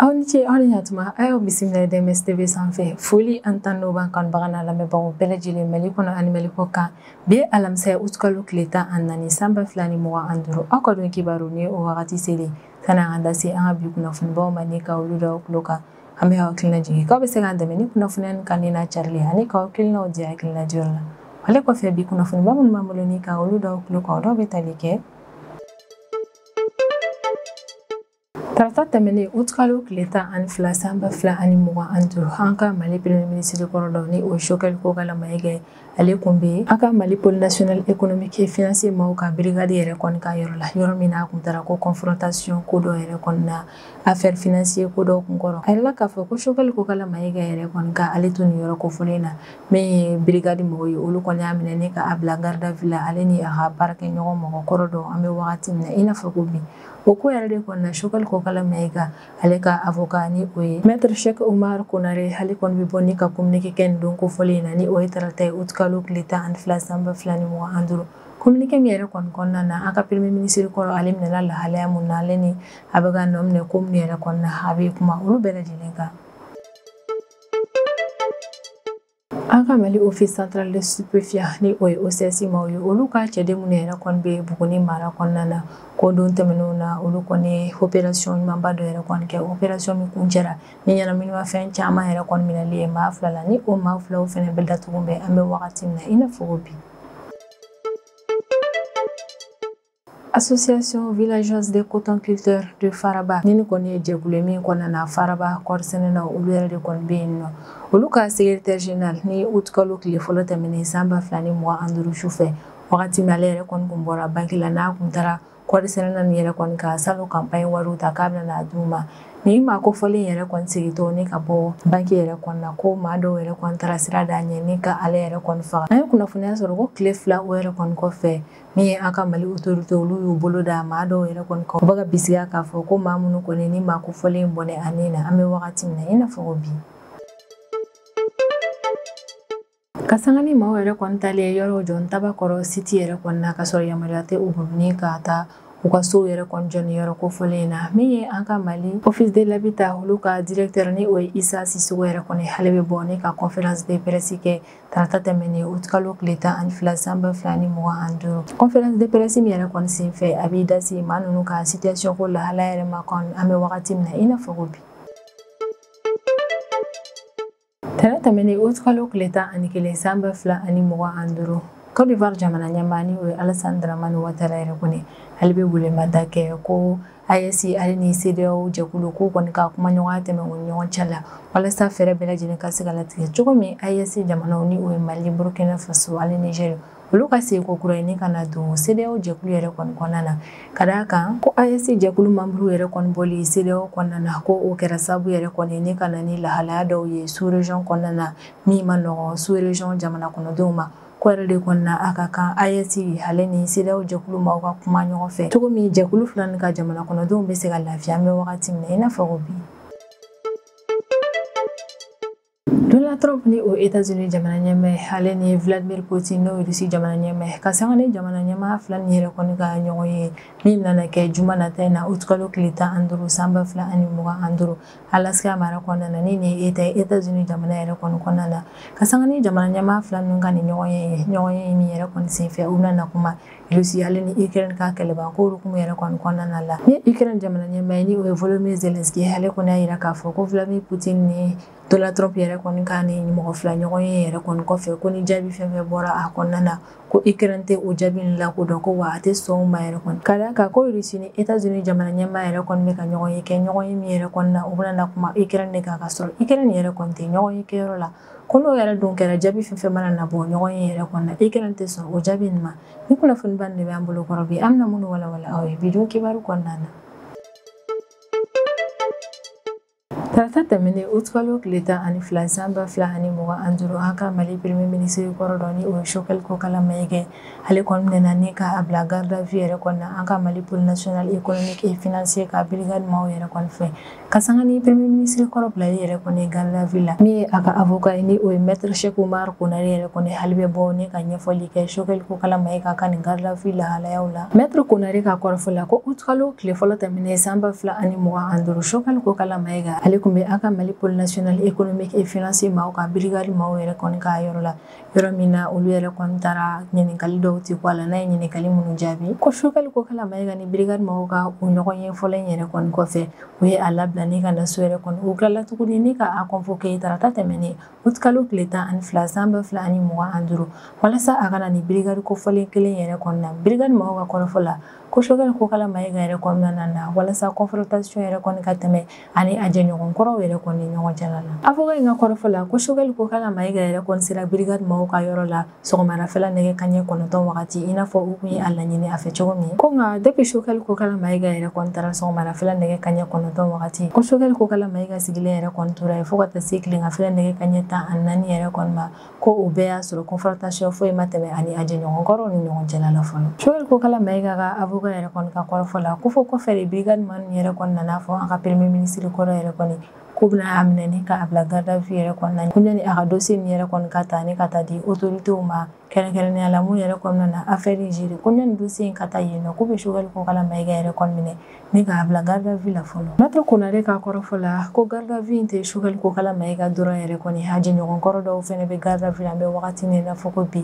aw ni ce aw ni yan tuma a y'aw bisimila DMS TV sanfɛ foli ani tanu b'an kanubagaw n'an lamɛnbagaw bɛɛ lajɛlen mali kɔnɔ ani mali kɔ kan bi alamisa utukalo tile tan ani naani san ba fila ni mugan ani duuru aw ka don kibaru ni o wagati selen san'an ka da se an ka bi kunnafonibaw ma ni ka olu da aw tulo kan an b'aw hakili lajigin k'aw bɛ se k'an dɛmɛ ni kunnafoniya nin kanuni n'a carili ani k'aw hakilinaw di hakilina jɔyɔrɔ la wale kɔfɛ bi kunnafoniba minnu b'an bolo ni ka olu d'aw tulo kan o dɔw bɛ tali kɛ tarata tɛmɛnen utukalo tile tan ani fila san ba fila ani mugan ani duuru an ka mali premier minisiri kɔrɔ dɔ ni o Choguel Kokala Mayiga ale kun bɛ an ka mali pôle national économique et financier maw ka brigade yɛrɛ kɔni ka yɔrɔ la yɔrɔ min na a kun taara ko confrontation ko dɔ yɛrɛ kɔni na affaire financier ko dɔ kun kɔrɔ a yirala k'a fɔ ko Choguel Kokala Mayiga yɛrɛ kɔni ka ale to nin yɔrɔ kofɔlen na min ye brigade mɔgɔw ye olu kɔni y'a minɛ ni ka a bila garde à vue la ale ni a ka baarakɛɲɔgɔn mɔgɔ kɔrɔ dɔ an bɛ wagati min na i n'a fɔ ko bi o ko yɛrɛ de kɔni na Choguel Kokala Mayiga ale ka avocat ni o ye maître Cheick Oumar Konaré ale kɔni bɛ bɔ ni ka kominike kɛ nin don kofɔlen in na ni o ye tarata ye utukalo tile tan ani fila san ba fila ni mugan ani duuru kominike min yɛrɛ kɔni kɔnɔna na an ka premier minisiri kɔrɔ ale minɛla lahalaya mun na ale ni a bɛ k'a nɔ minɛ ko minnu yɛrɛ kɔnɔna a bɛ kuma olu bɛɛ lajɛlen kan an ka mali office central de stupéfiants ni o ye OCS maw ye olu ka cɛden minnu yɛrɛ kɔni bɛ buguni mara kɔnɔna na ko don tɛmɛnenw na olu kɔni ye opération ɲumanba dɔ yɛrɛ kɔni kɛ opération min kuncɛra ni ɲɛnaminimafɛn caman yɛrɛ kɔni minɛli ye maa fila la ni o maa fila fɛnɛ bɛ datugu bɛ an bɛ wagati min na i n'a fɔ ko bi Association villageoise des cotonculteurs de Faraba nin kɔni ye jɛkulu min kɔnɔna na Faraba kɔɔrisɛnɛnaw olu yɛrɛ de kɔni bɛ yen nɔ olu ka secrétaire général ni août kalo tile fɔlɔ tɛmɛnen san ba fila ni mugan ani duuru su fɛ wagati min ale yɛrɛ kɔni kun bɔra banki la n'a kun taara kɔɔrisɛnɛna nin yɛrɛ kɔni ka salon campagne wariw ta k'a bɛna d'u ma nin maa kofɔlen yɛrɛ kɔni segintɔ ni ka bɔ banki yɛrɛ kɔni na ko maa dɔw yɛrɛ kɔni taara sira d'a ɲɛ ni ka ale yɛrɛ kɔni faga an ye kunnafoniya sɔrɔ ko tile fila o yɛrɛ kɔni kɔfɛ Min ye an ka Mali autorités olu y'u bolo da maa dɔw yɛrɛ kɔni kan, u bɛ ka bisigiya k'a fɔ ko maa minnu kɔni nin maa kofɔlen in bɔnɛ a ni na, an bɛ wagati min na i n'a fɔ ko bi. Ka sanga ni maaw yɛrɛ kɔni taalen ye yɔrɔw jɔ Ntabakɔrɔ cité yɛrɛ kɔni na, ka sɔrɔ yamaruya tɛ u bolo ni ka taa u ka sow yɛrɛ kɔni jɔ nin yɔrɔ kofɔlen in na, min ye an ka Mali Office de l'habitat olu ka directeur ni o ye Isa Sisoko yɛrɛ kɔni, ale bɛ bɔ ni ka conférence de presse kɛ tarata tɛmɛnen août kalo tile tan ani fila san ba fila ni mugan ani duuru conférence de presse min yɛrɛ kɔni senfɛ a b'i da se maa ninnu ka situation ko lahala yɛrɛ ma kɔni an bɛ wagati min na i n'a fɔ ko bi tɛnɛ tɛmɛnen août kalo tile tan ani kelen san ba fila ani mugan ani duuru Côte d'Ivoire jamana ɲɛmaa ni o ye Alassane Dramane Ouattara yɛrɛ kɔni ale bɛ welemada kɛ ko AES ale ni CEDEAO jɛkulu k'u kɔni ka kumaɲɔgɔnya tɛmɛ u ni ɲɔgɔn cɛ la walasa fɛɛrɛ bɛɛ lajɛlen ka se ka latigɛ cogo min AES jamanaw ni o ye mali burukina faso ani nizeri olu ka segin ko kura ye ni ka na don CEDEAO jɛkulu yɛrɛ kɔni kɔnɔna na ka d'a kan ko AES jɛkulu membre yɛrɛ kɔni bɔli CEDEAO kɔnɔna na ko o kɛra sababu yɛrɛ kɔni ni ka na ni lahalaya dɔw ye sous-région kɔnɔna na min man nɔgɔn sous-région jamana kɔnɔdenw ma Ko yɛrɛ de kɔnɔna na a ka kan AES ale ni CEDEAO jɛkulu maaw ka kuma ɲɔgɔn fɛ cogo min jɛkulu fila nin ka jamana kɔnɔdenw bɛ se ka lafiya an bɛ wagati min na i n'a fɔ ko bi. Donald Trump ni o États-Unis jamana ɲɛmaa ale ni Vladimir Poutine n'o Russie jamana ɲɛmaa ka sanga ni jamana ɲɛmaa fila nin yɛrɛ kɔni ka ɲɔgɔn ye min nana kɛ juma nata in na août kalo tile tan ani duuru san ba fila ani mugan ani duuru Alaska mara kɔnɔna na ni nin ye États-Unis jamana yɛrɛ kɔni kɔnɔna na ka sanga ni jamana ɲɛmaa fila ninnu ka nin ɲɔgɔn ye ɲɔgɔn ye min yɛrɛ kɔni senfɛ u nana kuma Russie ale ni Ukraine ka kɛlɛban ko hukumu yɛrɛ kɔni kɔnɔna la ni Ukraine jamana ɲɛmaa ye ni o ye Volodymyr Zelensky ale kɔni y'a jira k'a fɔ ko Vladimir Poutine ni Donald Trump yɛrɛ kɔni ka ni mɔgɔ fila ɲɔgɔn ye yɛrɛ kɔni kɔfɛ ko ni jaabi fɛn fɛn bɔra a kɔnɔna na ko Ukraine tɛ o jaabi lakodɔn ko wa a tɛ sɔn o ma yɛrɛ kɔni ka d'a kan ko Russie ni États-Unis jamana ɲɛmaa yɛrɛ kɔni bɛ ka ɲɔgɔn ye kɛ ɲɔgɔn ye min yɛrɛ kɔnɔna na u bɛna na kuma Ukraine de kan ka sɔrɔ Ukraine yɛrɛ kɔni tɛ ɲɔgɔn ye kɛyɔrɔ la ko n'o yɛrɛ dun kɛra jaabi fɛn fɛn mana na bɔ ɲɔgɔn ye yɛrɛ kɔnɔna Ukraine tɛ sɔn o jaabi nin ma ni kunnafoniba de bɛ an bolo kɔrɔ bi an bɛna minnu walawala aw ye bi don kibaru kɔnɔna na Tata tɛmɛnen o kalo tile tan ani fila sanba fila ani mɔgɔ an duuru an ka mali perepe minisiriri kɔrɔdɔ ni o ye sokɛkaliko kala ma kɛ ale kɔnɔna na ni k'a bila ganfi yɛrɛ kɔnɔna an ka mali psiyli kɔnɔ ni fna se ka binlima yɛrɛ fɛ ka san ni pere minisiriri kɔrɔ bila yɛrɛ kɔni ganfi la min ye a ka abuka ni o ye mɛreseku maririkɛ yɛrɛ hali bɛ bɔ ne ka ɲɛfɔli kɛ sokɛkaliko kala ma e ka ka nin ganfi lahalaya la Maître Konaré ka kɔrɔfɔ la ko août kalo tile fɔlɔ tɛmɛnen san ba fila ani mugan ani duuru Choguel Kokala Maïga ale tun bɛ an ka Mali pôle national économique et financier maaw ka brigade maaw yɛrɛ kɔni ka yɔrɔ la yɔrɔ min na olu yɛrɛ kɔni taara ɲininkali dɔw tɛ ku a la n'a ye ɲininkali minnu jaabi ko Choguel Kokala Maïga ni brigade maaw ka o ɲɔgɔn ye fɔlɔ in yɛrɛ kɔni kɔfɛ u ye a labila ni ka na so yɛrɛ kɔni u tilala tuguni ni ka a convoquer tarata tɛmɛnen utikalo tile tan ani fila san ba fila ani mugan ni duuru walasa a ka na nin brigade kofɔlen kelen yɛrɛ kɔnɔna brigade mɔgɔw ka kɔrɔfɔ la ko sogɛli kokala mayiga yɛrɛ kɔnɔna na walasa confrontation yɛrɛ kɔni ka tɛmɛ a ni a jɛɲɔgɔn kɔrɔw yɛrɛ kɔni ɲɔgɔn cɛla la avoka in ka kɔrɔfɔ la ko sogɛli kokala mayiga yɛrɛ kɔni sera brigade mɔgɔw ka yɔrɔ la sɔgɔmadafɛla nɛgɛ kanɲɛ kɔnɔntɔn wagati i n'a fɔ u kun ye a laɲini a fɛ cogo min ko nka depuis sogɛli kokala mayiga yɛrɛ kɔni taara sɔgɔmadafɛla nɛgɛ kanɲɛ kɔnɔntɔn wagati ko sogɛli kokala mayiga sigilen yɛrɛ kɔni tora yen fo ka taa se tileganfɛla nɛgɛ kanɲɛ tan ani naani yɛrɛ kɔni ma ko o bɛɛ y'a sɔrɔ confrontation foyi ma tɛmɛ a ni a jɛɲɔgɔn kɔrɔw ni ɲɔgɔn cɛla la fɔlɔ sogɛli kokala mayiga ka avoka yɛrɛ kɔni ka kɔrɔfɔ la ko fo kɔfɛ de brigade maaw yɛrɛ kɔni nana a fɔ an ka premier ministre kɔrɔ yɛrɛ kɔni k'u bɛna a minɛ ni k'a bila garde à vue yɛrɛ kɔnɔna na ko yani a ka dossier nin yɛrɛ kɔni ka ta ni ka taa di autoritéw ma kɛrɛnkɛrɛnnenya la min yɛrɛ kɔnɔna na affaire in gérer ko yani dossier in ka taa yen nɔ k'u bɛ sogɛli kokala mayiga yɛrɛ kɔni minɛ ni k'a bila garde à vue la fɔlɔ maître konare ka kɔrɔfɔ la ko garde à vue in tɛ sogɛli kokala mayiga dɔrɔn yɛrɛ kɔni a jɛɲɔgɔn kɔrɔ dɔw fɛnɛ bɛ garde à vue la an bɛ wagati min na fɔ ko bi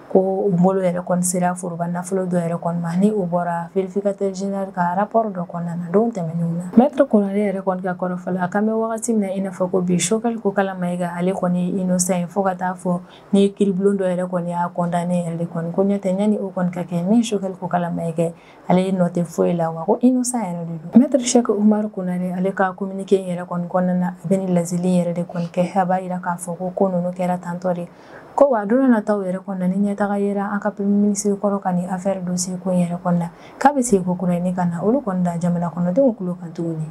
ko u bolo yɛrɛ kɔni sera foroba nafolo dɔ yɛrɛ kɔni ma ni o bɔra vérificateur général ka rapport dɔ kɔnɔna na don tɛmɛnenw na maître konare yɛrɛ kɔni ka kɔrɔfɔ la k'an bɛ wagati min na i n'a fɔ ko bi sogɛli kokala mayiga ale kɔni ye innocent ye fo ka taa fo ni kiiribulon dɔ yɛrɛ kɔni y'a condamné yɛrɛ de kɔni ko ɲɔtɛ ɲani o kɔni ka kɛ min sogɛli kokala mayiga ale nɔ tɛ foyi la wa ko innocent yɛrɛ de don maître chek umar konare ale ka communiqué yɛrɛ kɔni kɔnɔna na a bɛ nin laseli yɛrɛ de kɔni kɛ a b'a yira k'a fɔ ko ko ninnu kɛra tantɔ de ko wa don nataw yɛrɛ kɔnɔna ni ɲɛtaga yera an ka premier ministre kɔrɔ ka nin affaire dossier ko in yɛrɛ kɔnɔna k'a bɛ segin kokura ni ka na olu kɔni da jamana kɔnɔdenw tulo kan tuguni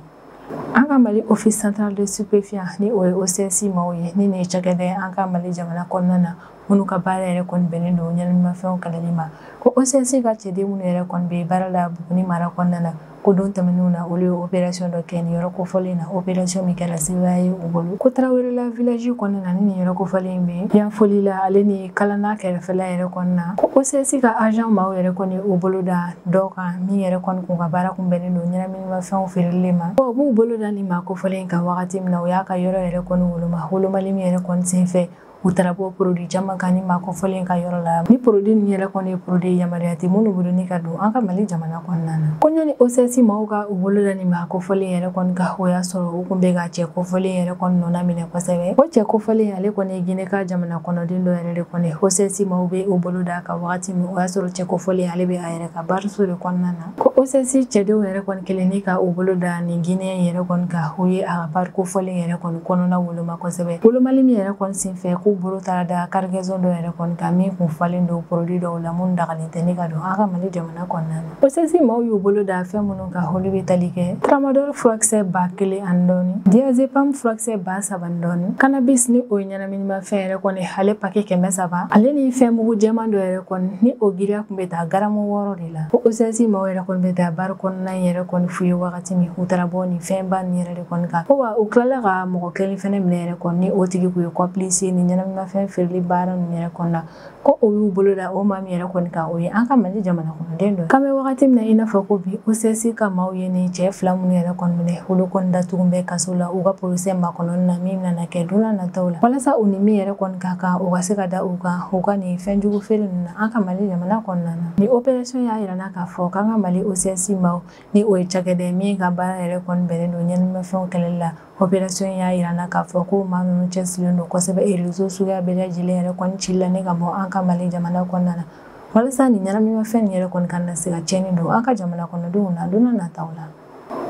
an ka mali office central de stupéfiant ni o ye OCS maaw ye ni nin ye cakɛda ye an ka mali jamana kɔnɔna na minnu ka baara yɛrɛ kɔni bɛnnen don ɲɛnaminimafɛnw kɛlɛli ma ko OCS ka cɛden minnu yɛrɛ kɔni bɛ baara la buguni mara kɔnɔna na ko don tɛmɛnenw na olu ye opération dɔ kɛ nin yɔrɔ kofɔlen na opération min kɛra sebaaya ye u bolo ko tarawelela village kɔnɔna na ni nin yɔrɔ kofɔlen in bɛ yanfolila ale ni kalana kɛrɛfɛla yɛrɛ kɔnɔna na ko OCS ka agent maaw yɛrɛ kɔni u bolo da dɔ kan min yɛrɛ kɔni kun ka baara kun bɛnnen don ɲɛnaminimafɛnw feereli ma u b'u bolo da nin maa kofɔlen in kan wagati min na u y'a ka yɔrɔ yɛrɛ kɔni woloma wolomali min yɛrɛ kɔni senfɛ u taara bɔ produit caman kan nin maa kofɔlen ka yɔrɔ la ni produit nin yɛrɛ kɔni ye produit yamaruya tɛ minnu bolo ni ka don an ka mali jamana kɔnɔna na ko ɲani OCS maaw ka u bolo da nin maa kofɔlen yɛrɛ kɔni kan o y'a sɔrɔ u kun bɛ ka cɛ kofɔlen yɛrɛ kɔni nɔna minɛ kosɛbɛ o cɛ kofɔlen ale kɔni ye gine ka jamana kɔnɔden dɔ yɛrɛ de kɔni OCS maaw bɛ u bolo da a kan wagati min o y'a sɔrɔ cɛ kofɔlen ale bɛ a yɛrɛ ka bariso de kɔnɔna na Ko OCS cɛdenw yɛrɛ kɔni kɛlen ni ka u bolo da nin Guinéen yɛrɛ kɔni kan u ye a ka bari kofɔlen yɛrɛ kɔni kɔnɔna woloma kosɛbɛ wolomali min yɛrɛ kɔni sen fɛ k'u bolo taara da cargaison dɔ yɛrɛ kɔni kan min kun falen don produit dɔw la minnu dagalen tɛ ni ka don an ka Mali jamana kɔnɔna na OCS maaw y'u bolo da fɛn minnu kan olu bɛ tali kɛ tramadol furakisɛ ba kelen ani dɔɔni diazepam furakisɛ ba saba ani dɔɔni cannabis ni o ye ɲɛnaminimafɛn yɛrɛ kɔni ale paquet kɛmɛ saba ale ni fɛn mugu jɛman dɔ yɛrɛ kɔni ni o giriya kun bɛ taa garamu wɔɔrɔ de ko OCS maaw yɛrɛ kɔni bɛ taa bari kɔnɔna in yɛrɛ kɔni fouiller wagati min k'u taara bɔ nin fɛnba nin yɛrɛ de kɔni kan ko wa u tilala ka mɔgɔ kelen fɛnɛ minɛ yɛrɛ kɔni ni o tigi kun ye complice ye nin ɲɛnaminimafɛn feereli baara nin yɛrɛ kɔni na ko o y'u bolo da o maa min yɛrɛ kɔni kan o ye an ka mali jamana kɔnɔden dɔ k'an bɛ wagati min na i n'a fɔ ko bi OCS ka maaw ye nin cɛ fila minnu yɛrɛ kɔni minɛ olu kɔni datugulen bɛ kaso la u ka procès makɔnɔni na min nana kɛ don nataw la walasa u ni min yɛrɛ kɔni ka kan u ka se ka da u kan u ka nin fɛn jugu feere nin na an ka mali jamana kɔnɔna nin opération y'a jira na k'a fɔ k'an ka mali OCS maaw ni o ye cakɛda min ka baara yɛrɛ kɔni bɛnnen don ɲɛnaminimafɛnw kɛlɛli la opération y'a jira na k'a fɔ ko maa ninnu cɛsirilen don kosɛbɛ réseau suguya bɛɛ lajɛlen yɛrɛ kɔni cili la ni ka bɔ an ka mali jamana kɔnɔna na walasa ni ɲɛnaminimafɛn yɛrɛ kɔni kana se ka tiɲɛni don an ka jamana kɔnɔdenw na don nataw la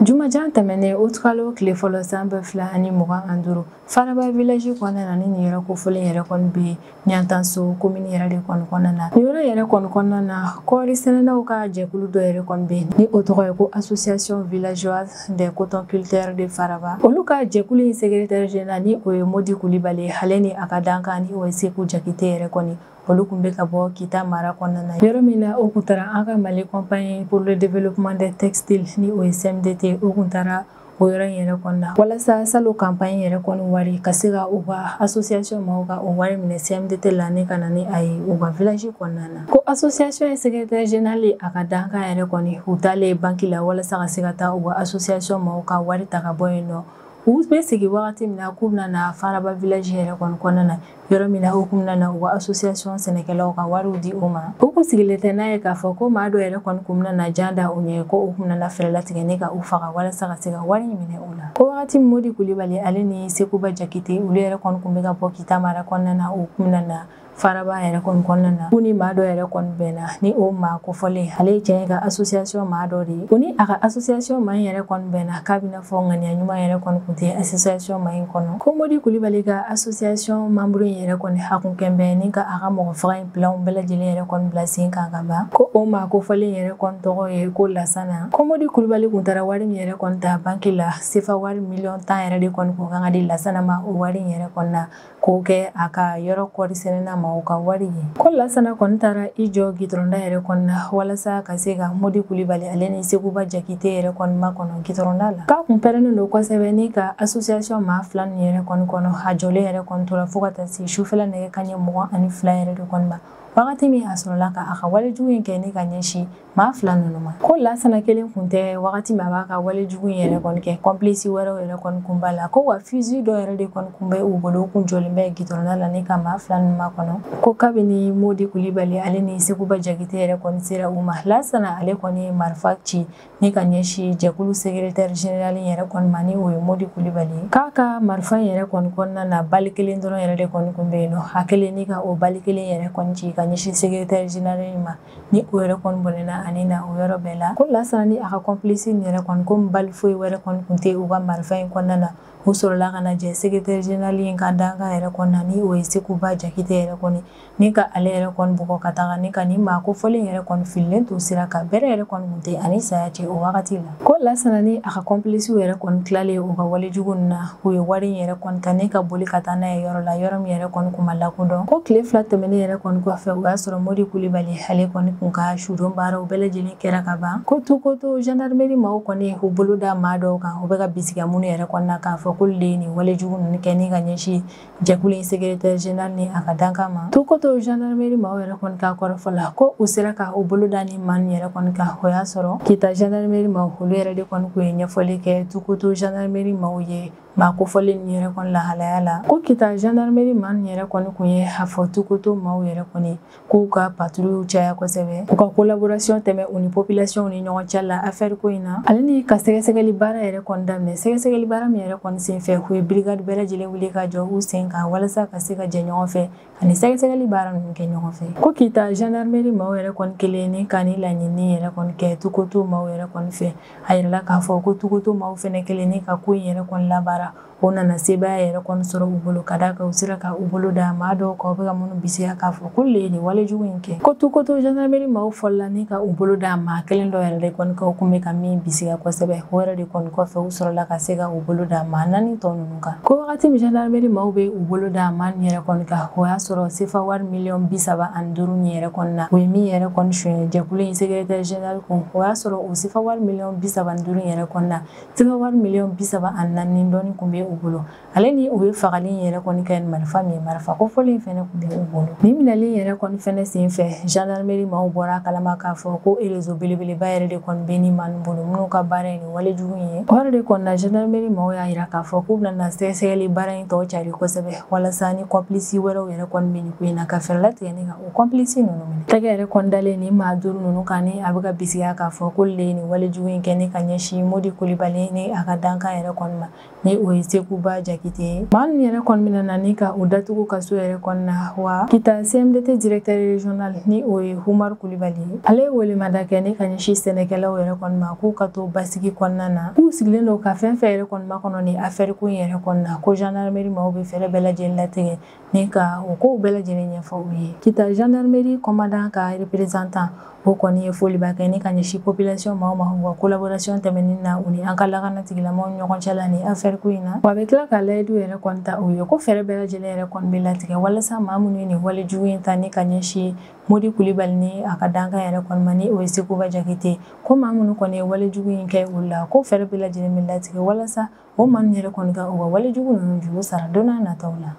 jumadon tɛmɛnen utikalo tile fɔlɔ san ba fila ani mugan ni duuru Faraba village kɔnɔna na ni nin yɔrɔ kofɔlen yɛrɛ kɔni bɛ Ɲantanso commune yɛrɛ de kɔni kɔnɔna na nin yɔrɔ yɛrɛ kɔni kɔnɔna na kɔɔri sɛnɛnaw ka jɛkulu dɔ yɛrɛ kɔni bɛ yen ni o tɔgɔ ye ko association villageoise des cotonculteurs de Faraba olu ka jɛkulu in secrétaire général ni o ye Modi Kulibali ale ni a ka dankan ni o ye Seku Jakite yɛrɛ kɔni olu kun bɛ ka bɔ Kita mara kɔnɔna na yɔrɔ min na o kun taara an ka Mali compagnie pour le développement des textiles ni o ye CMDT o kun taara o yɔrɔ in yɛrɛ kɔnɔna na walasa salo kanpaɲi yɛrɛ kɔni wari ka se ka u ka association maaw ka o wari minɛ CMDT la ni ka na ni a ye u ka village kɔnɔna na ko association in secrétaire général ni a ka dankan yɛrɛ kɔni u taalen banki la walasa ka se ka taa u ka association maaw ka wari ta ka bɔ yen nɔ u bɛ segin wagati min na k'u bɛna na Faraba village yɛrɛ kɔni kɔnɔna na yɔrɔ min na u kun bɛna na u ka association sɛnɛkɛlaw ka wariw di u ma u kun sigilen tɛ n'a ye k'a fɔ ko maa dɔ yɛrɛ kɔni kun bɛna na jan da u ɲɛ ko u kun bɛna na fɛɛrɛ latigɛ ni ka u faga walasa ka se ka wari minɛ u la ko wagati min Modi Kulibali ale ni Sekuba Jakite olu yɛrɛ kɔni kun bɛ ka bɔ Kita mara kɔnɔna na u kun bɛna na Faraba yɛrɛ kɔni kɔnɔna na u ni maa dɔ yɛrɛ kɔni bɛnna ni o maa kofɔlen ale ye cɛ nin ka association maa dɔ de ye u ni a ka association maa in yɛrɛ kɔni bɛnna k'a bɛna fɔ ŋaniya ɲuman yɛrɛ kɔni kun tɛ association maa in kɔnɔ ko Modi Kulibali ka association membre in yɛrɛ kɔni a kun kɛlen bɛ ni ka a ka mɔgɔ faga in planw bɛɛ lajɛlen yɛrɛ kɔni bila sen kan ka ban ko o maa kofɔlen yɛrɛ kɔni tɔgɔ ye ko Lasana ko Modi Kulibali kun taara wari min yɛrɛ kɔni ta banki la sefa wari miliyɔn tan yɛrɛ de kɔni kun ka kan ka di Lasana ma o wari in yɛrɛ kɔni na k'o kɛ a ka yɔrɔ kɔɔri sɛnɛna maaw ka wari ye ko lasana kɔni taara i jɔ gitɔrɔnda yɛrɛ kɔni na walasa ka se ka modi kulibali ale ni sekuba jakite yɛrɛ kɔni makɔnɔ gitɔrɔnda la k'a kun pɛrɛnnen don kosɛbɛ ni ka asosiyasiɔn maa fila nin yɛrɛ kɔni kɔnɔ a jɔlen yɛrɛ kɔni tora fo ka taa se sufɛla nɛgɛ kanɲɛ mugan ni fila yɛrɛ de kɔni ma wagati min a sɔrɔla ka a ka walejugu in kɛ ni ka ɲɛsin maa fila ninnu ma ko lasana kelen kun tɛ wagati min a b'a ka wale jugu in yɛrɛ kɔni kɛ kɔnpilisi wɛrɛw yɛrɛ kɔni kun b'a la ko wa fizi dɔ yɛrɛ de kɔni kun bɛ u bolo u kun jɔlen bɛ gitɔrɔnda la ni ka maa fila ninnu makɔnɔ ko kabini modi kulibali ale ni sekuba jakite yɛrɛ kɔni sera u ma lasana ale kɔni ye marifa ci ni ka ɲɛsin jɛkulu sekretɛri generali yɛrɛ kɔni ma ni o ye modi kulibali k'a ka marifa yɛrɛ kɔni kɔnɔna na bali kelen dɔrɔn yɛrɛ de kɔni kun bɛ yen nɔ a kelen ni ka o bali kelen yɛrɛ kɔni ci ka ɲɛsin sekretɛri generali ma ni o yɛrɛ kɔni bɔnɛna a ni na o yɔrɔ bɛɛ la ko lasana ni a ka kɔnpilisi nin yɛrɛ kɔni ko bali foyi wɛrɛ kɔni kun tɛ u ka marifa in kɔnɔna na u sɔrɔla ka na jɛ sekretɛri jenerali in ka dankan yɛrɛ kɔni na ni o ye sekuba jakite yɛrɛ kɔni ni ka ale yɛrɛ kɔni bugɔ ka taga ni ka nin maa kofɔlen yɛrɛ kɔni fililen to sira kan bɛrɛ yɛrɛ kɔni kun tɛ a ni saya cɛ o wagati la ko lasana ni a ka kɔnpilisiw yɛrɛ kɔni tilalen u ka wale jugu ninnu na u ye wari in yɛrɛ kɔni ta ni ka boli ka taa n'a ye yɔrɔ la yɔrɔ min yɛrɛ kɔni kun ma lakodɔn ko tile fila tɛmɛnen yɛrɛ kɔni kɔfɛ o y'a sɔrɔ modi kulibali ale kɔni kun ka sudon baaraw bɛɛ lajɛlen kɛra ka ban ko tukoto gendarmerie maaw kɔni u bolo da maa dɔw kan u bɛ ka bisigiya minnu yɛrɛ kɔni na k'a fɔ k'olu de ye nin wale jugu ninnu kɛ ni ka ɲɛsin Jɛkulu in secrétaire général ni a ka dankan ma, Tukoto gendarmerie maaw yɛrɛ kɔni ka kɔrɔfɔ la, ko u sera ka u bolo da nin maa yɛrɛ kɔni kan, o y'a sɔrɔ Kita gendarmerie maaw olu yɛrɛ de kɔni kun ye ɲɛfɔli kɛ Tukoto gendarmerie maaw ye maa kofɔlen nin yɛrɛ kɔni lahalaya la, ko Kita gendarmerie maa nin yɛrɛ kɔni kun ye a fɔ Tukoto maaw yɛrɛ kɔni k'u ka patrouilles caya kosɛbɛ u ka collaboration tɛmɛ u ni population ni ɲɔgɔn cɛ la affaire ko in na ale ni ka sɛgɛsɛgɛli baara yɛrɛ kɔni daminɛ sɛgɛsɛgɛli baara min yɛrɛ kɔni senfɛ u ye brigade bɛɛ lajɛlen wuli ka jɔ u sen kan walasa ka se ka jɛ ɲɔgɔn fɛ ani sɛgɛsɛgɛli baara ninnu kɛ ɲɔgɔn fɛ ko kita gendarmerie maaw yɛrɛ kɔni kelen ni ka nin laɲini yɛrɛ kɔni kɛ tukoto maaw yɛrɛ kɔni fɛ a yirala k'a fɔ ko tukoto maaw fɛnɛ kelen ni ka ko in yɛrɛ kɔni labaara O nana sebaaya yɛrɛ kɔni sɔrɔ u bolo ka d'a kan u sera ka u bolo da maa dɔw kan u bɛ ka minnu bisigiya k'a fɔ k'olu ye nin wale jugu in kɛ ko tukoto jandarmeri maaw fɔlɔla ni ka u bolo da maa kelen dɔ yɛrɛ de kɔni kan u kun bɛ ka min bisigiya kosɛbɛ o yɛrɛ de kɔni kɔfɛ u sɔrɔla ka se ka u bolo da maa naani tɔ ninnu kan ko wagati min jandarmeri maaw bɛ u bolo da maa nin yɛrɛ kɔni kan o y'a sɔrɔ sefa wari miliyɔn bi saba ani duuru nin yɛrɛ kɔni na u ye min yɛrɛ kɔni sonyɛ jɛkulu in sekretɛri jenerali kun o y'a sɔrɔ o sefa wari miliyɔn bi saba duuru yɛrɛ kɔni na CFA wari miliyɔn bi saba ani naani ni dɔɔni kun bɛ u bolo ale ni u ye fagali in yɛrɛ kɔni kɛ marifa min ye marifa kofɔlen in fɛnɛ kun bɛ u bolo nin minɛli in yɛrɛ kɔni fɛnɛ sen fɛ gendarmerie maaw bɔra a kalama k'a fɔ ko réseau belebeleba yɛrɛ de kɔni bɛ nin maa ninnu bolo minnu ka baara ye nin wale jugu in ye o yɛrɛ de kɔnɔna gendarmerie maaw y'a yira k'a fɔ k'u bɛna sɛgɛsɛgɛli baara in tɔw cari kosɛbɛ walasa ni complice wɛrɛw yɛrɛ kɔni bɛ nin ko in na ka fɛɛrɛ latigɛ ni ka O complice ninnu tɛgɛ yɛrɛ kɔni dalen ni maa duuru ninnu kan ni a bɛ ka bisigiya k'a fɔ k'olu de ye nin wale jugu in kɛ ni ka ɲɛsin modi kulibali ni a ka dankan yɛrɛ kɔni ma ni o ye sekuba jakite ye maa ninnu yɛrɛ kɔni minɛna ni ka u datugu kaso yɛrɛ kɔni na wa kita CMDT directeur régional ni o ye umaru kulibali ye ale ye welemada kɛ ni ka ɲɛsin sɛnɛkɛlaw yɛrɛ kɔni ma k'u ka to basigi kɔnɔna na k'u sigilen don ka fɛn fɛn yɛrɛ kɔni makɔnɔ nin affaire ko in yɛrɛ kɔni na ko gendarmerie maaw bɛ fɛɛrɛ bɛɛ lajɛlen latigɛ ni ka o kow bɛɛ lajɛlen ɲɛfɔ u ye kita gendarmerie commandant ka représentant o kɔni ye foliba kɛ ni ka ɲɛsi population maaw ma u ka collaboration tɛmɛnin na u ni an ka lakana tigilamaw ni ɲɔgɔn cɛla nin affaire ko in na wa a bɛ tila ka layidu yɛrɛ kɔni ta u ye ko fɛɛrɛ bɛɛ lajɛlen yɛrɛ kɔni bɛ latigɛ walasa maa minnu ye nin wale jugu in ta ni ka ɲɛsi modi kulibali ni a ka dankan yɛrɛ kɔni ma ni o ye sekuba jakite ko maa minnu kɔni ye wale jugu in kɛ olu la ko fɛɛrɛ bɛɛ lajɛlen bɛ latigɛ walasa o maa ninnu yɛrɛ kɔni ka u ka wale jugu ninnu juru sara don n'a nataw la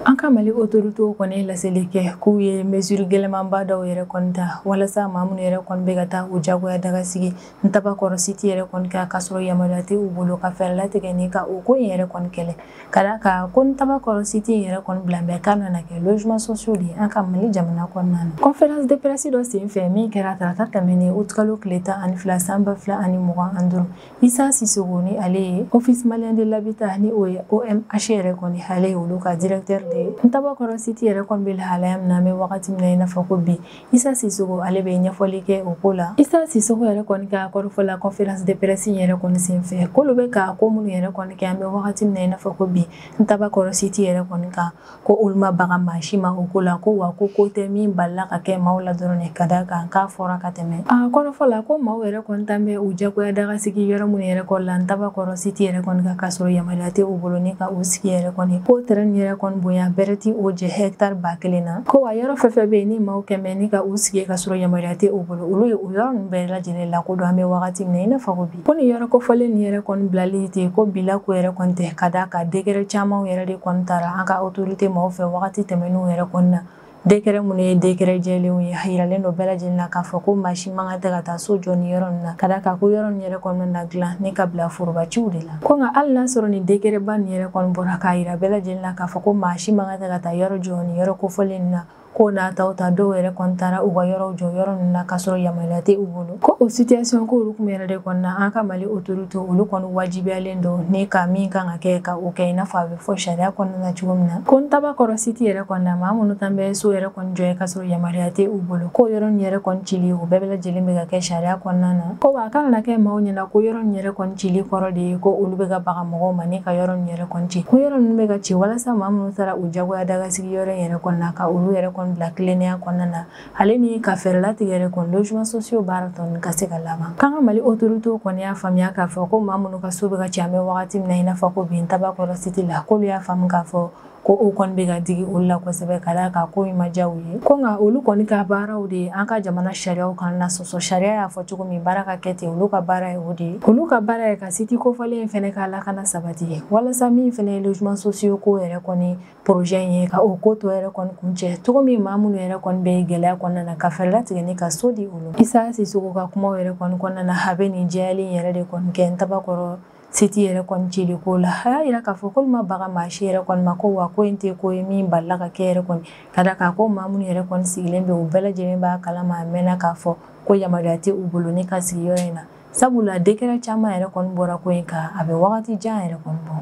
an ka mali autorités kɔni laseli kɛ k'u ye mesure gɛlɛmanba dɔw yɛrɛ kɔni ta walasa maa minnu yɛrɛ kɔni bɛ ka taa u jagoya daga sigi ntabakɔrɔ site yɛrɛ kɔni kan k'a sɔrɔ yamaruya tɛ u bolo ka fɛɛrɛ latigɛ ni ka o ko in yɛrɛ kɔni kɛlɛ ka d'a kan ko ntabakɔrɔ site in yɛrɛ kɔni bila bɛɛ k'a nana kɛ logement sociaux de ye an ka mali jamana kɔnɔna na conférence de presse dɔ sen fɛ min kɛra tarata tɛmɛnen utikalo tile tan ani fila san ba fila ani mugan ani duuru Isa Sisoko ni ale ye Office Malien de l'Habitat ni o ye OMH yɛrɛ kɔni ale ye olu ka directeur de ye. Ntabakɔrɔ site yɛrɛ kɔni bɛ lahalaya min na an bɛ wagati min na i n'a fɔ ko bi Isa Sisoko ale bɛ ɲɛfɔli kɛ o ko la. Isa Sisoko yɛrɛ kɔni ka kɔrɔfɔ la conférence de presse in yɛrɛ kɔni senfɛ k'olu bɛ ka ko minnu yɛrɛ kɔni kɛ an bɛ wagati min na i n'a fɔ ko bi Ntabakɔrɔ site yɛrɛ kɔni kan ko olu ma baga maa si ma o ko la ko wa ko ko tɛ min balila ka kɛ maaw la dɔrɔn de ka d'a kan k'a fɔra ka tɛmɛ a ka kɔrɔfɔ la ko maaw yɛrɛ kɔni taalen bɛ u jagoya daga sigi yɔrɔ minnu yɛrɛ kɔni la ntabakɔrɔ site yɛrɛ kɔni kan k'a sɔrɔ yamaruya tɛ u bolo ni ka u sigi yɛrɛ kɔni ko tɛrɛn yɛrɛ kɔni bonya bɛrɛ ti o jɛ hɛkitari ba kelen na ko wa yɔrɔ fɛn fɛn bɛ yen ni maaw kɛmɛ ni ka u sigi ka sɔrɔ yamaruya tɛ u bolo olu ye o yɔrɔ ninnu bɛɛ lajɛlen lakodɔn an bɛ wagati min na i n'a fɔ ko bi ko nin yɔrɔ kofɔlen nin yɛrɛ kɔni bilali ten ko bi la ko yɛrɛ kɔni tɛ ka d'a kan décret camanw yɛrɛ de kɔni tara an ka autorité maaw fɛ wagati tɛmɛnenw yɛrɛ kɔni na décret minnu ye décret jɛlenw ye yiralen don bɛɛ lajɛlen na k'a fɔ ko maa si man kan tɛ ka taa so jɔ nin yɔrɔ ninnu na ka d'a kan ko yɔrɔ ninnu yɛrɛ kɔni nana dilan ni ka bila forobaciw de la ko nka hali n'a sɔrɔ nin décret ba nin yɛrɛ kɔni bɔra k'a yira bɛɛ lajɛlen na k'a fɔ ko maa si man kan tɛ ka taa yɔrɔ jɔ nin yɔrɔ kofɔlen na ko n'a taw ta dɔw yɛrɛ kɔni taara u ka yɔrɔw jɔ yɔrɔ ninnu na k'a sɔrɔ yamaruya tɛ u bolo ko o situation ko olu kun yɛrɛ de kɔni na an ka mali autorité olu kɔni wajibiyalen don ni ka min kan ka kɛ ka o kɛ i n'a fɔ a bɛ fɔ sariya kɔnɔna na cogo min na ko ntabakɔrɔ siti yɛrɛ kɔni na maa minnu tan bɛ so yɛrɛ kɔni jɔ yen k'a sɔrɔ yamaruya tɛ u bolo ko yɔrɔ nin yɛrɛ kɔni cili o bɛɛ bɛ lajɛlen bɛ ka kɛ sariya kɔnɔna na ko wa a kana na kɛ maaw ɲɛna ko yɔrɔ nin yɛrɛ kɔni cili kɔrɔ de ye ko olu bɛ ka baga mɔgɔw ma ni ka yɔrɔ nin yɛrɛ kɔni ci ko yɔrɔ ninnu bɛ ka ci walasa maa minnu taara u jagoya daga sigi yɔrɔ in yɛrɛ kɔni na ka olu yɛrɛ kɔni bila tilennenya kɔnɔna na ale ni ka fɛɛrɛ latigɛ yɛrɛ kɔni logement sociaux baara tɔ ka se ka laban k'an ka mali autorité kɔni y'a faamuya k'a fɔ ko maa minnu ka so bɛ ka ci an bɛ wagati min na i n'a fɔ ko bi ntabakɔrɔ siti la k'olu y'a faamu k'a fɔ ko o kɔni bɛ ka digi olu la kosɛbɛ ka d'a kan ko in ma diya u ye ko nka olu kɔni ka baaraw de ye an ka jamana sariyaw kana na sɔsɔ sariya y'a fɔ cogo min baara ka kɛ ten olu ka baara ye o de ye olu ka baara ye ka siti kofɔlen in fɛnɛ ka lakana sabati ye walasa min fɛnɛ ye logement sociaux ko yɛrɛ kɔni porozɛ in ye ka o ko tɔ yɛrɛ kɔni kuncɛ cogo min maa minnu yɛrɛ kɔni bɛ gɛlɛya kɔnɔna na ka fɛɛrɛ latigɛ ni ka so di olu isa sisoko ka kumaw yɛrɛ kɔni kɔnɔna na a bɛ nin jɛyali yɛrɛ de kɔni kɛ ntabakɔrɔ siti yɛrɛ kɔni cili ko la a y'a yira k'a fɔ k'olu ma baga maa si yɛrɛ kɔni ma ko wa ko in tɛ ko ye min balila ka kɛ yɛrɛ kɔni ka d'a kan ko maa minnu yɛrɛ kɔni sigilen bɛ u bɛɛ lajɛlen b'a kalama a mɛnna k'a fɔ ko yamaruya tɛ u bolo ni ka sigi yɔrɔ in na sabula dekɛrɛ caman yɛrɛ kɔni bɔra ko in kan a bɛ wagati jan yɛrɛ kɔni bɔ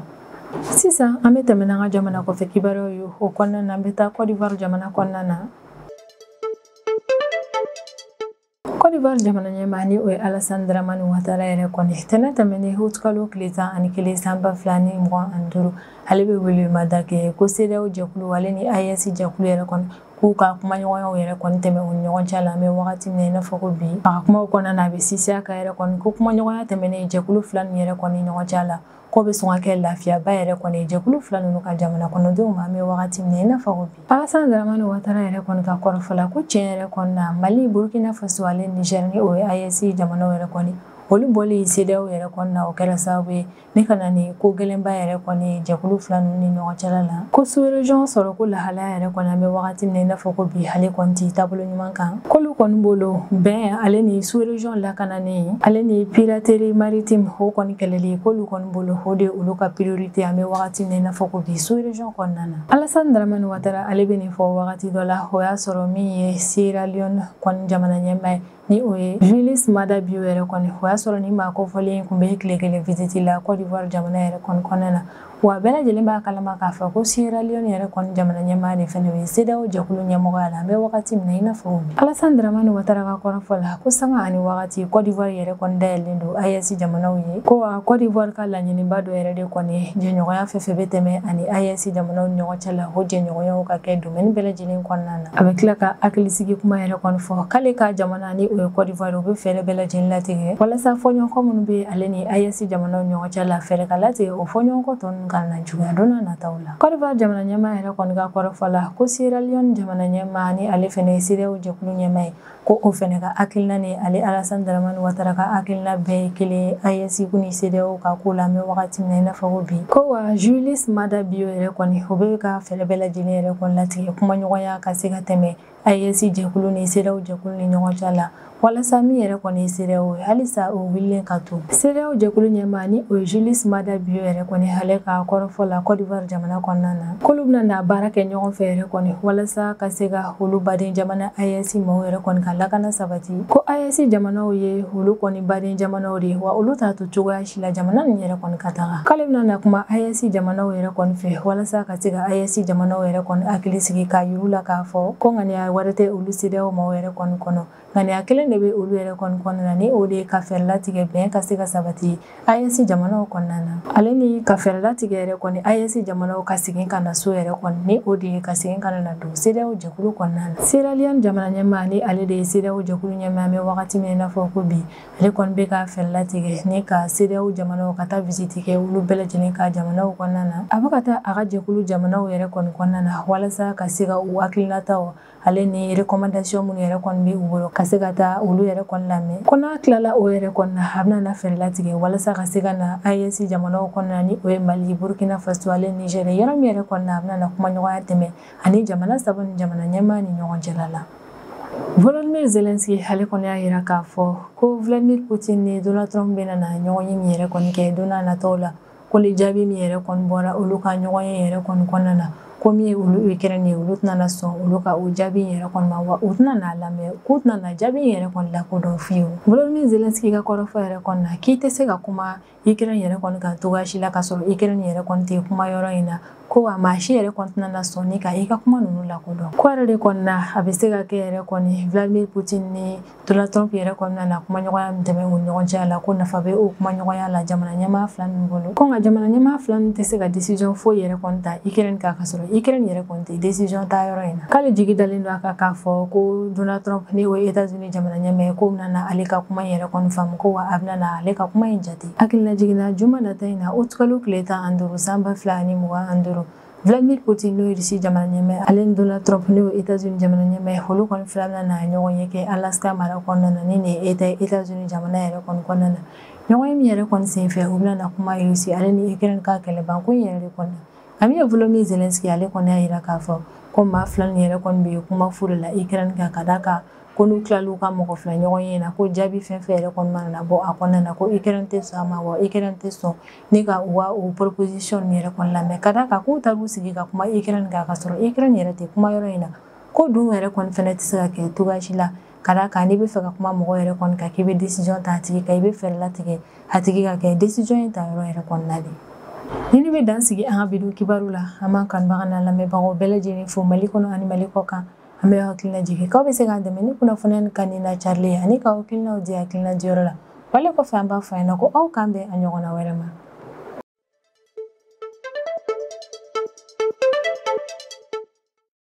sisan an bɛ tɛmɛ n'an ka jamana kɔfɛ kibaruyaw ye o kɔnɔna na an bɛ taa kɔdiwari jamana kɔnɔna na kɔdiwari jamana ɲɛmaa ni o ye alasani daramani watara yɛrɛ kɔni tɛnɛn tɛmɛnen utikalo tile tan ani kelen san ba fila ni mugan ani duuru ale bɛ welemada kɛ ko sedeyaw jɛkulu ale ni ayɛsi jɛkulu yɛrɛ kɔni k'u ka kumaɲɔgɔnyaw yɛrɛ kɔni tɛmɛ u ni ɲɔgɔn cɛ la an bɛ wagati min i n'a fɔ ko bi a ka kumaw kɔnɔna na a bɛ sinsin a kan yɛrɛ kɔni ko kumaɲɔgɔnya tɛmɛnen jɛkulu fila nin yɛrɛ kɔni ɲɔgɔn cɛ la k'o bɛ sɔn ka kɛ lafiyaba yɛrɛ kɔni jɛkulu fila ninnu ka jamana kɔnɔdenw ma an bɛ wagati min i n'a fɔ ko bi alasan daramani watara yɛrɛ kɔni ka kɔrɔfɔ la ko tiɲɛ yɛrɛ kɔni na mali burukina faso ale nizɛri ni o ye ayɛsi jamanaw yɛrɛ kɔni olu bɔli sedeyaw yɛrɛ kɔni na o kɛra sababu ye ni ka na ni ko gɛlɛnba yɛrɛ kɔni ye jɛkulu fila ninnu ni ɲɔgɔn cɛla la ko sous-région sɔrɔko lahalaya yɛrɛ kɔni an bɛ wagati min na i n'a fɔ ko bi ale kɔni tɛ taabolo ɲuman kan k'olu kɔni bolo bɛn ale ni sous-région lakanani ale ni piraterie maritime o kɔni kɛlɛli k'olu kɔni bolo o de olu ka priorité an bɛ wagati min na i n'a fɔ ko bi sous-région kɔnɔna na Alassane Dramane Ouattara ale bɛ nin fɔ wagati dɔ la o y'a sɔrɔ min ye Sierra Leone kɔni jamana ɲɛmaa ye ni o ye julius maada bio yɛrɛ kɔni o y'a sɔrɔ ni maa kofɔlen kun bɛ tile kelen visiti la cote d'ivoire jamana yɛrɛ kɔni kɔnɔna na wa bɛɛ lajɛlen b'a kalama k'a fɔ ko sierra leone yɛrɛ kɔni jamana ɲɛmaa de fɛnɛ bɛ sedeyaw jɛkulu ɲɛmɔgɔya la an bɛ wagati min na i n'a fɔ alasan dramani watara ka kɔrɔfɔ la ko sanga ani wagati cote d'ivoire yɛrɛ kɔni dayɛlɛlen don ayɛsi jamanaw ye ko wa cote d'ivoire ka laɲiniba dɔ yɛrɛ de kɔni jɛɲɔgɔnya fɛn fɛn bɛ tɛmɛ a ni ayɛsi jamanaw ni ɲɔgɔn cɛ la o jɛɲɔgɔnyaw ka kɛ domɛni bɛɛ lajɛlen kɔnɔna na a bɛ tila ka hakilisigi kuma yɛrɛ kɔni fɔ k'ale ka jamana ni o ye Côte d'Ivoire o bɛ fɛɛrɛ bɛɛ lajɛlen latigɛ walasa fɔɲɔgɔnkɔ minnu bɛ ale ni AES jamanaw ɲɔgɔn cɛ la fɛɛrɛ ka latigɛ o fɔɲɔgɔnkɔ tɔ ninnu kana na juguya don n'a nataw la Côte d'Ivoire jamana ɲɛmaa yɛrɛ kɔni ka kɔrɔfɔ la ko Sierra Leone jamana ɲɛmaa ni ale fɛnɛ ye CEDEAO jɛkulu ɲɛmaa ye ko o fɛnɛ ka hakilina ni ale Alassane Dramane Ouattara ka hakilina bɛɛ ye kelen ye AES ni CEDEAO ka ko la an bɛ wagati min na i n'a fɔ ko bi ko wa Julius Maada Bio yɛrɛ kɔni o bɛ ka fɛɛrɛ bɛɛ lajɛlen yɛrɛ kɔni latigɛ kumaɲɔgɔnya ka se ka tɛmɛ AES jɛkulu ni CEDEAO jɛkulu ni ɲɔgɔn cɛ la walasa min yɛrɛ kɔni ye CEDEAO ye halisa o wililen ka to CEDEAO jɛkulu ɲɛmaa ni o ye Julius Maada Bio yɛrɛ kɔni ale ka kɔrɔfɔ la Côte d'Ivoire jamana kɔnɔna na k'olu bɛna na baara kɛ ɲɔgɔn fɛ yɛrɛ kɔni walasa ka se ka olu baden jamana AES maaw yɛrɛ kɔni ka lakana sabati ko AES jamanaw ye olu kɔni baden jamanaw de ye wa olu t'a to cogoya si la jamana nin yɛrɛ kɔni ka taga k'ale bɛna na kuma AES jamanaw yɛrɛ kɔni fɛ walasa ka se ka AES jamanaw yɛrɛ kɔni hakili sigi k'a yir'u la k'a fɔ ko ŋaniya wɛrɛ tɛ olu CEDEAO maaw yɛrɛ kɔni kɔnɔ Ŋaniya kelen de bɛ olu yɛrɛ kɔni kɔnɔna na ni o de ye ka fɛɛrɛ latigɛ bɛn ka se ka sabati AES jamanaw kɔnɔna na ale ni ka fɛɛrɛ latigɛ yɛrɛ kɔni AES jamanaw ka segin ka na so yɛrɛ kɔni ni o de ye ka segin ka na don CEDEAO jɛkulu kɔnɔna na Sierra Leone jamana ɲɛmaa ni ale de ye CEDEAO jɛkulu ɲɛmaa an bɛ wagati min i n'a fɔ ko bi ale kɔni bɛ ka fɛɛrɛ latigɛ ni ka CEDEAO jamanaw ka taa visite kɛ olu bɛɛ lajɛlen ka jamanaw kɔnɔna na a bɛ ka taa a ka jɛkulu jamanaw yɛrɛ kɔni kɔnɔna na walasa ka se ka u hakilinataw ale ni recommandation minnu yɛrɛ kɔni bɛ u bolo ka se ka taa olu yɛrɛ kɔni lamɛn ko n'a tilala o yɛrɛ kɔni na a bɛna na fɛɛrɛ latigɛ walasa ka se ka na AES jamanaw kɔnɔna ni o ye Mali Burkina Faso ale Niger yɔrɔ min yɛrɛ kɔni na a bɛna na kumaɲɔgɔnya tɛmɛ a ni jamana saba ninnu jamana ɲɛmaa ni ɲɔgɔn cɛla la Volodymyr Zelensky ale kɔni y'a yira k'a fɔ ko Vladimir Poutine ni Donald Trump bɛna na ɲɔgɔn ye min yɛrɛ kɔni kɛ don n'a nataw la ko ni jaabi min yɛrɛ kɔni bɔra olu ka ɲɔgɔn ye yɛrɛ kɔni kɔnɔna na ko min ye olu Ukraine ye olu tɛna sɔn olu ka o jaabi yɛrɛ kɔni ma wa u tɛna n'a lamɛn k'u tɛna jaabi yɛrɛ kɔni lakodɔn fiyewu Volodymyr Zelensky ka kɔrɔfɔ yɛrɛ kɔni na k'i tɛ se ka kuma Ukraine yɛrɛ kɔni kan cogoya si la ka sɔrɔ Ukraine yɛrɛ kɔni tɛ kuma yɔrɔ in na ko wa maa si yɛrɛ kɔni tɛna sɔn ni ka i ka kuma ninnu lakodɔn ko yɛrɛ de kɔnɔna na a bɛ se ka kɛ yɛrɛ kɔni Vladimir Poutine ni Donald Trump yɛrɛ kɔni bɛna na kumaɲɔgɔnya min tɛmɛ u ɲɔgɔn cɛ la ko nafa bɛ o kumaɲɔgɔnya la jamana ɲɛmaa fila nin bolo ko nka jamana ɲɛmaa fila nin tɛ se ka décision foyi yɛrɛ kɔni ta Ukraine kan ka sɔrɔ Ukraine yɛrɛ kɔni tɛ décision ta yɔrɔ in na k'ale jigi dalen don a kan k'a fɔ ko Donald Trump ni o ye États-Unis jamana ɲɛmaa ye k'o bɛna na ale ka kuma in yɛrɛ kɔni faamu ko wa a bɛna na ale ka kuma in jate hakililajigin na juma nata in na août kalo tile tan ani duuru san ba fila ni mugan ani duuru Vladimir Putin n'o ye Russie jamana ɲɛmaa ale ni Donald Trump n'o ye Etats-Unis jamana ɲɛmaa olu kɔni fila bɛna na ɲɔgɔn ye kɛ Alaska mara kɔnɔna na ni nin ye Etat Etats-Unis jamana yɛrɛ kɔni kɔnɔna na ɲɔgɔn ye min yɛrɛ kɔni senfɛ u bɛna na kuma Russie ale ni Ukraine ka kɛlɛban ko in yɛrɛ de kɔnɔ a min ye Volodymyr Zelensky ale kɔni y'a jira k'a fɔ ko maa fila nin yɛrɛ kɔni bɛ kuma fu de la Ukraine kan ka d'a kan ko n'u tilal'u ka mɔgɔ fila ɲɔgɔn ye na ko jaabi fɛn fɛn yɛrɛ kɔni mana na bɔ a kɔnɔna na ko Ukraine tɛ sɔn a ma wa Ukraine tɛ sɔn ne ka u ka o proposition ninnu yɛrɛ kɔni lamɛn ka d'a kan k'u taar'u sigi ka kuma Ukraine kan ka sɔrɔ Ukraine yɛrɛ tɛ kuma yɔrɔ in na k'o dun yɛrɛ kɔni fana tɛ se ka kɛ cogoya si la ka d'a kan n'i bɛ fɛ ka kuma mɔgɔ yɛrɛ kɔni kan k'i bɛ décision ta a tigi kan i bɛ fɛɛrɛ latigɛ a tigi ka kɛ décision in ta yɔrɔ yɛrɛ kɔnɔna de nin de bɛ dan sigi an ka bi don kibaru la an b'an kanubagaw n'an lamɛnbagaw bɛɛ lajɛlen fo Mali kɔnɔ ani Mali kɔkan an bɛ hakili lajigin k'aw bɛ se k'an dɛmɛ ni kunnafoni nin kanuni n'a carili ye ani ka hakilinaw di hakilina diyɔrɔ la wale kɔfɛ an b'a fɔ aw ɲɛna ko aw k'an bɛn a ɲɔgɔnna wɛrɛ ma